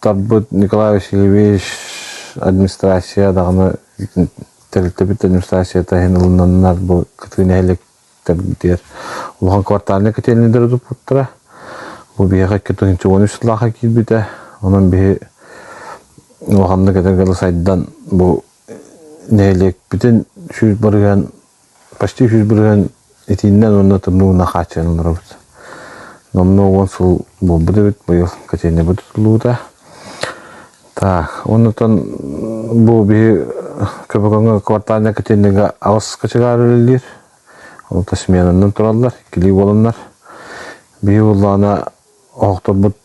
Тарбыт Николай Васильевич администрация даҕаны тэрилтэбит администрацията иһин ылыннаннар бу кытыы нэһиликтэрдиэр улахан квартальнай котельныйдары туппуттара. Бу биһиэхэ икки тыһыынча үс сыллааха киирбитэ. Онон биһи улаханнык эдэр сайдан бу нэһилиэкпитин сүүс барыһыан почти үһүс бырыһан итииннэн уонна тымныы уна хааччыйан олоробут. Номно уон сыл буолбут эбит, быйыл котельнайбыт тутуллубута. Так, оннутан бу биһи көбөгөҥө квартальный котельныга алыс качыгаар үлэлиир. Ол сменаннан тураллар, кили боланнар. Биһи уллаана охторбут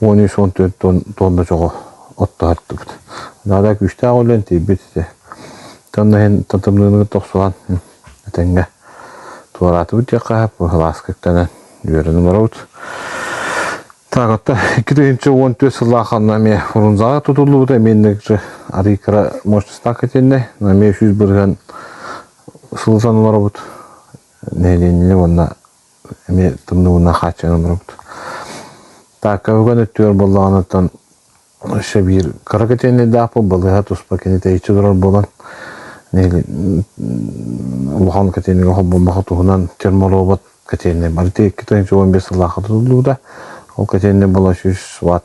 уон үс уон төрт туонна чоҕо оттоһартыбыт. Наада күүстээх үлэн тиийбит ити. Танна иһин татымныыныгы тохсуһан этэҥҥэ туораатыбыт диэххэ быһылааскыктанан үөрүн олоробут. Так, отто икки тыһынча уон түөрт сыллаах аннами урунзаға тутуллубута меннекже арикара мощността кәтенне наме үсіз бырган сылсан олоробут нелени онна эмиэ тымныыбынан хааччыйан олоробут. Так, өкөн өттүгэр буоллаҕынаттан өссө биир кыра кэтиэнэйдээх бу балыыһа туспа кини тэйиччи турар буолан улахан кэтиэнэйгэ холбоммахы туһунан терморобот кэтиэннэй бары икки тыһыынча он бес сыллаахха тутуллубута ол кэтиэннэй бола сүүс ватт